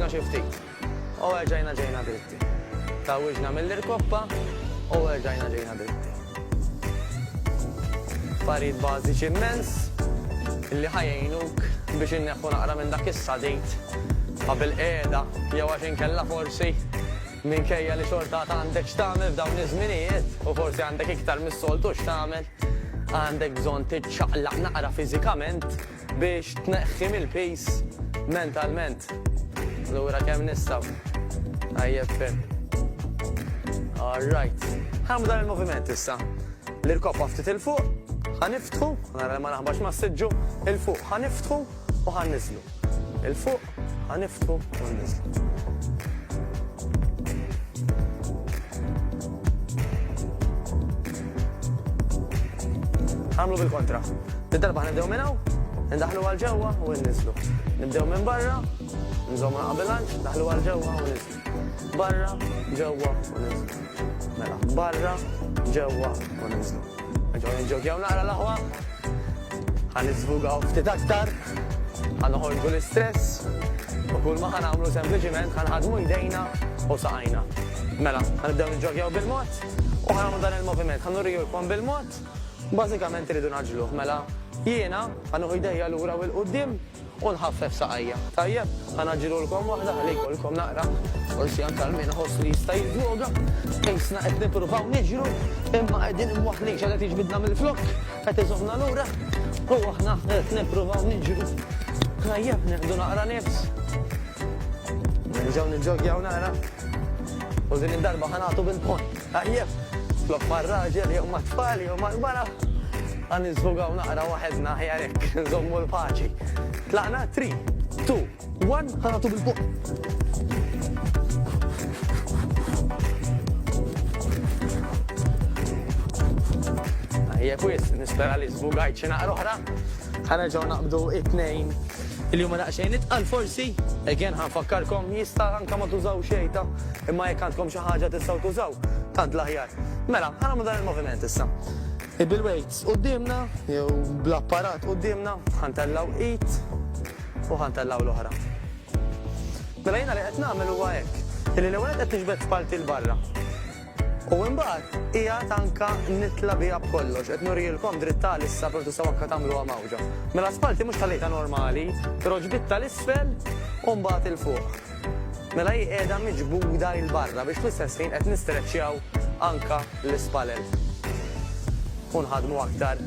Ġna xi ftit. U erġajna ġejna dritti. Tawiġna mill-irkoppa u erġajna ġejna dritti. Affarijiet bażiċi immens li ħajjinuk biex inneħħu naqra minn dak is-sadejt ta' bil-qiegħda jew għax inkella forsi minkejja li xorta għandek x'tagħmel f'dawn iż-żminijiet u forsi għandek iktar mis-soltu x'tagħmel għandek bżonn tiċċaqlaq naqra fiżikament Biex tneħħi mill-piż mentalment. Lura kemm nistgħu. Tajjeb ferm. All right. Ħamu dan il-moviment issa. L-irkoppa ftit il-fuq, ħaniftħu, nara ma naħbax ma s-sidġu, il-fuq ħaniftħu u ħanniżlu. Il-fuq Ħa niftħu u nismgħu. Nagħmlu bil-kontra. Din darba ħa nibdew minn hawn, indaħħlu għal ġewwa u inniżlu. Nibdew minn barra, nżommu l-ħaq bil-lanċ, ndaħħlu għal ġewwa u niżlu. Barra, ġewwa u niżlu. Mela, barra, ġewwa u niżlu. Ġew nġokjaw naqra l-aħwa. Għan iżvugaw ftit aktar. Għan uħorġu l-istress. U kull ma għan għamlu sempliciment għan ħadmu jdejna u saqajna. Mela, għan ibdew nġokjaw bil-mod. U għan għamlu dan il-moviment. Għan urriju l-kom bil-mod. Bazzikament rridu naġluħ. Mela, jiena għan uħu jdejja l-ura u l-qoddim. U nħaffef saqajja. Tajjeb, ħa ngħaġġilulkom waħda ħalli jkollkom naqra porzjon tal min iħoss li jista' jiżżloga. Qisna qed nippruvaw niġru, imma qegħdin imwaħħlin x'għad qed jiġbidna mill-flokk, qed iżommna lura, u aħna qed nippruvaw niġru. Tajjeb, nieħdu naqra nifs. Nerġgħu niġġoggjaw naqra. U din id-darba ħa nagħtu bil-pont. Tajjeb, flok mar-raġel jew mat-tfal jew mal-mara, għan niżvugaw naqra waħedna aħjar hekk, nżommu l-paċi. Tlaqna three, two, one, ħa nagħtu bil-fuq. Tajjeb wis, nispera li żvugajt xi naqra oħra. Ħa nerġgħu naqbdu it-tnejn li huma daqsxejn itqal forsi. Again ħa nfakkarkom jista' anke ma tużaw xejn ta' imma jekk għandkom xi ħaġa tistgħu tużaw tant l-aħjar. Mela, ħa nagħmlu dan il-moviment issa. Bil-weights quddiemna jew bl-apparat quddiemna ħa ntellgħu id u ħa ntellgħu l-oħra. Mela jiena li qed nagħmel huwa hekk, illi l-ewwel qed niġbed parti l-barra. U imbagħad qiegħed anka nitla' biha b'kollox, qed nurielkom dritt ta' issa però tistgħu anka tagħmluha mgħawġa. Mela spalti mhux ħallejtha normali, però ġbidtha 'l isfel u mbagħad 'il fuq. Mela hi qiegħda miġbuda 'il barra biex fl-istess ħin qed nistreċċjaw anka l-ispalel u nħaddmu aktar.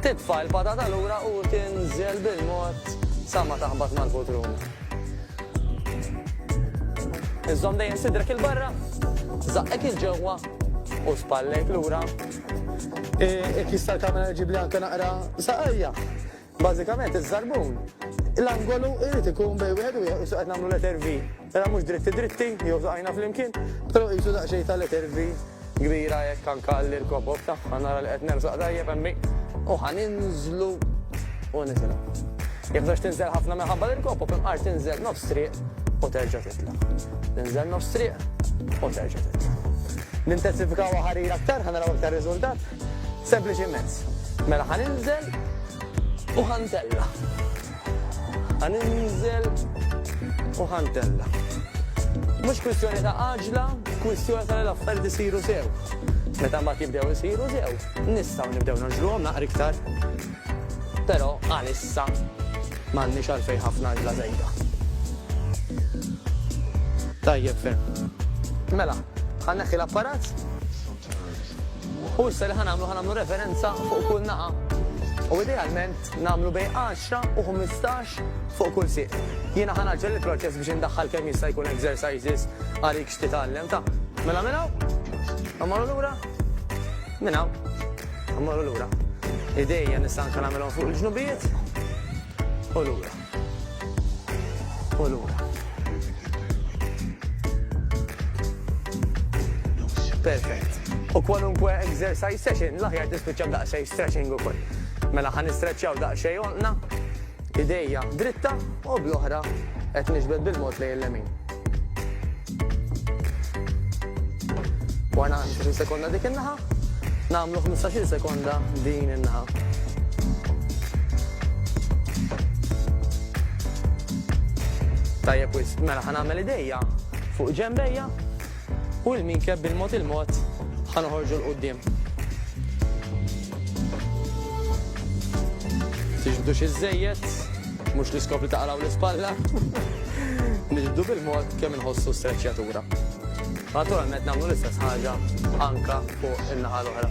Titfa' il-patata lura u tinżel bil-mod sa ma taħbat mal-putrum. Iżżomm dejjem sidrek 'il barra, żaqqek 'il ġewwa u spallejk lura. Il-kies tal-kamera jġib li anke naqra saqajja. Bażikament iż-żarbun, l-angolu jrid ikun bejn wieħed u wieħed, issa qed nagħmlu letter V. Mela mhux dritti dritti, jew fqajna flimkien, però qisu daqsxejn ta' letter V kbira hekk anke għall-irkob u bta', ħa nara li qed nersaq tajjeb hemmhekk, u ħa ninżlu u nitilgħu. Jekk bżonx tinżel ħafna minħabba l-irkob u fl-inqar tinżel nofs triq u terġa' titla'. Tinżel nofs triq u terġa' titla'. Nintensifikawha ħarir aktar ħa naraw aktar riżultat? Sempliċi immens. Mela ħa ninżel u ħa ntella'. Ħa ninżel u ħa ntella'. Mhux kwistjoni ta' għaġla, kwistjoni ta' li l-affarijiet isiru sew. Meta mbagħad jibdew isiru sew, nistgħu nibdew nagħġluhom naqra iktar. Però għalissa m'għandniex għalfejn ħafna għaġla żejda. Tajjeb ferm. Mela, ħa nneħħi l-apparat. U issa li ħa nagħmlu ħa nagħmlu referenza fuq kull naqa' u idealment nagħmlu bejn 10 u 15 fuq kull sieq. Jiena ħa naġġel il-proċess biex indaħħal kemm jista' jkun exercises għalik x'titgħallem ta'. Mela minn hawn, immorru lura, minn hawn, immorru lura. Idejja nista' anke nagħmilhom fuq il-ġnubijiet u lura. U lura. Perfett. U kwalunkwe exercise session, l-aħjar tispiċċa b'daqsxejn stretching ukoll. Mela ħa nistreċċjaw daqsxejn għonqna, idejja dritta u bl-oħra qed niġbed bil-mod lejn l-lemin. Warna 20 sekonda dik in-naħa, nagħmlu 15 sekonda din in-naħa. Tajjeb wis, mela ħanagħmel idejja fuq ġembejja u l-minkeb bil-mod il-mod ħanoħorġu l-qoddim. Tixbdux iż-żejjed, Mhux l-iskopri ta' qalaw l-ispalla. Niġbdu bil-mod kemm inħossu s-streċċjatura. Naturalment nagħmlu l-istess ħaġa anke fuq in-naħa l-oħra.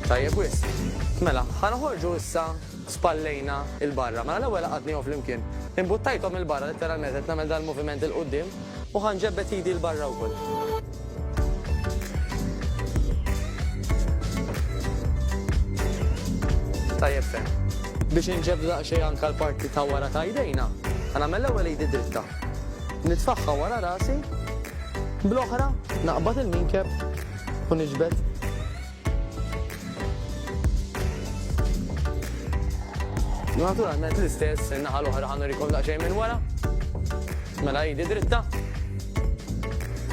Tajjeb wisq. Mela, ħa noħorġu issa spallejna 'l barra. Mela l-ewwel għaqadnihom flimkien. Imbuttajthom 'il barra, litteralment qed nagħmel dan il-moviment 'il quddiem, u ħa nġebbed idi 'l barra wkoll. Tajjeb ferm. Biex inġebbdu daqsxejn anke l-parti ta' wara ta' jdejna, ħa nagħmel l-ewwel idi dritta. Nitfagħha wara rasi, bl-oħra naqbad il-minkeb u niġbed. Naturalment l-istess in-naħa l-oħra ħanur ikun daqsxejn minn wara. Mela jidi dritta.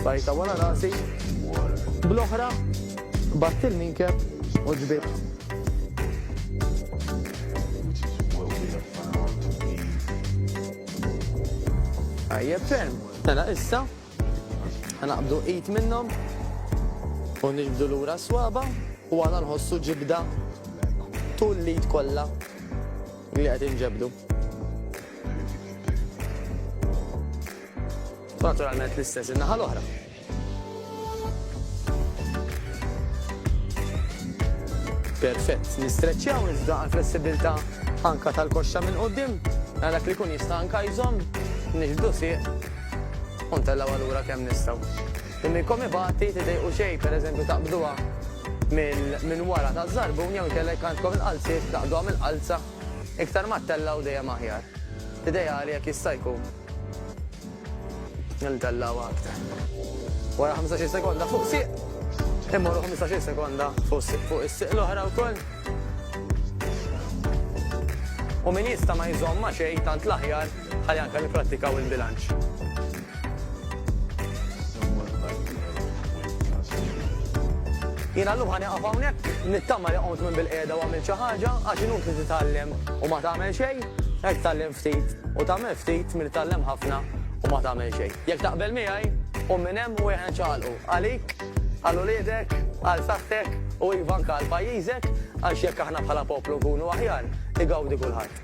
Bajta wara rasi. Bl-oħra batt il-minkeb u ġbit. Ajjeb ferm. Mela issa Ħanaqbdu id minnhom u niġbdu lura s-swaba u għana nħossu ġibda tul l-id kollha li qed inġebdu. Naturalment l-istess in-naħa l-oħra. Perfett, nistreċċjaw iżda għal flessibilità anka tal-koxxa minn qudiem, għalhekk li kun jista' anka jżomm nixbdu sieq U ntellgħuha lura kemm nistgħu. Li minnkom ibati tidejqu xejn, pereżempju taqbduha minn wara taż-żarbun jew inkellek għandkom il-qalziet taqbduha mill-qalza, iktar ma ttellgħu dejjem aħjar. Ideali jekk jista' jkun li ntellgħuha aktar. Wara ħamsax-il sekonda fuq sieq, immorru ħmistax-il sekonda fuq is-sieq l-oħra wkoll. U min jista' ma jżomm ma' xejn tant l-aħjar. Ħalli anke nipprattikaw il-bilanċ. Jiena llum ħa nieqaf hawnhekk, nittama li qomt minn bilqiegħda u għamilt xi ħaġa għax inutli titgħallem u ma tagħmel xejn, hekk tgħallem ftit u tagħmel ftit milli tgħallem ħafna u ma tagħmel xejn. Jekk taqbel miegħi, qum minn hemm u ejja niċċaqalqu għalik, għal uliedek, għal saħħtek u iva anke għal pajjiżek għax jekk aħna bħala poplu nkunu aħjar, igawdi kulħadd.